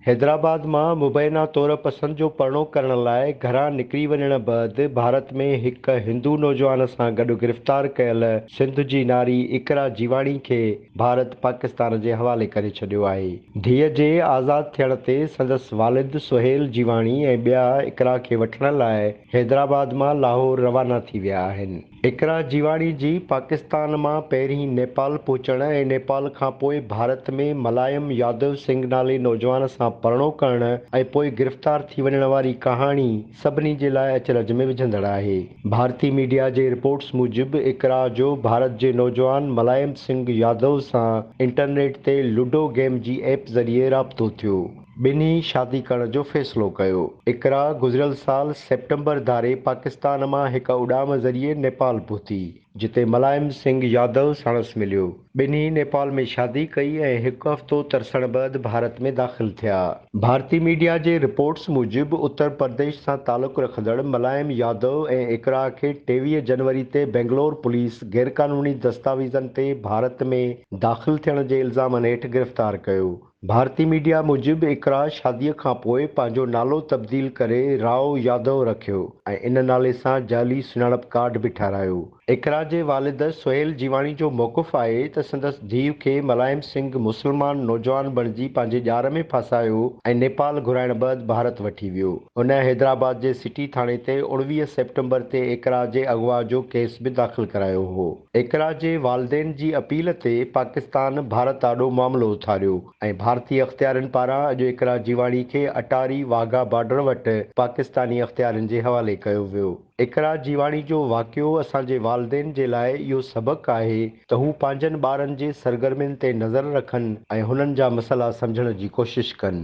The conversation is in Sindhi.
حيدرآباد مان مبينا طور پسند جو پرڻو ڪرڻ لاء گهران نڪري وڃڻ بعد ڀارت ۾ هڪ هندو نوجوان سان گڏ گرفتار ڪيل سنڌ جي ناري اقرا جيواڻي کي ڀارت پاڪستان جي حوالي ڪري ڇڏيو آهي. ڌيء جي آزاد ٿيڻ تي سندس والد سهيل جيواڻي ۽ ٻيا اقرا کي وٺڻ لاء حيدرآباد مان لاهور روانا ٿي ويا آهن. اقرا جيواڻي جي پاڪستان مان پهرين نيپال پهچڻ ۽ نيپال کان پوء ڀارت ۾ ملايم يادو سنگهه نالي نوجوان سان پرڻو ڪرڻ ۽ پوء گرفتار ٿي وڃڻ واري ڪهاڻي، سڀني جي لاء اچرج ۾ وجهندڙ آهي. ڀارتي ميڊيا جي رپورٽس موجب اقرا جو ڀارت جي نوجوان ملائم سنگهه يادو سان انٽرنيٽ تي لوڊو گيم جي ايپ ذريعي رابطو ٿيو. ٻنهي شادي ڪرڻ جو فيصلو ڪيو. اقرا گذريل سال سيپٽمبر ڌاري پاڪستان مان هڪ اڏام ذريعي نيپال پهتي. جتي ملائم سنگهه يادو ساڻس مليو. ٻنهي نيپال ۾ شادي ڪئي ۽ هڪ هفتو ترسڻ بعد ڀارت ۾ داخل ٿيا. ڀارتي ميڊيا جي رپورٽس موجب اتر پرديش سان تعلق رکندڙ ملائم يادو ۽ اقرا کي ٽيويهه جنوري تي بئنگلور پوليس غيرقانوني دستاويزن تي ڀارت ۾ داخل ٿيڻ جي الزامن هيٺ گرفتار ڪيو. ڀارتي ميڊيا موجب اقرا شادي کانپوء پنهنجو نالو تبديل ڪري راء يادو رکيو ۽ ان نالي سان جعلي سڃاڻپ ڪارڊ به ٺهرايو. اقرا جي والد سهيل جيواڻي جو موقف آهي ته سندس ڌيء کي ملائم سنگهه مسلمان نوجوان بڻجي پنهنجي ڄار ۾ ڦاسايو ۽ نيپال گهرائڻ بعد ڀارت وٺي ويو. هن حيدرآباد جي سٽي ٿاڻي تي اوڻويهه سيپٽمبر تي اقرا جي اغوا جو ڪيس به داخل ڪرايو هو. اقرا جي والدين جي اپيل تي پاڪستان ڀارت آڏو معاملو اٿاريو ۽ ڀارتي اختيارين پاران اڄ اقرا جيواڻي کي اٽاري واگها بارڊر وٽ پاڪستاني اختيارين جي حوالي ڪيو ويو. اقرا جيواڻي جو واقعو اسان جي والدين جي لاء اهو سبق آهي ته هو پنهنجن ٻارن جي سرگرمين تي نظر رکن ۽ هنن جا مسئلا سمجهڻ جي ڪوشش ڪن.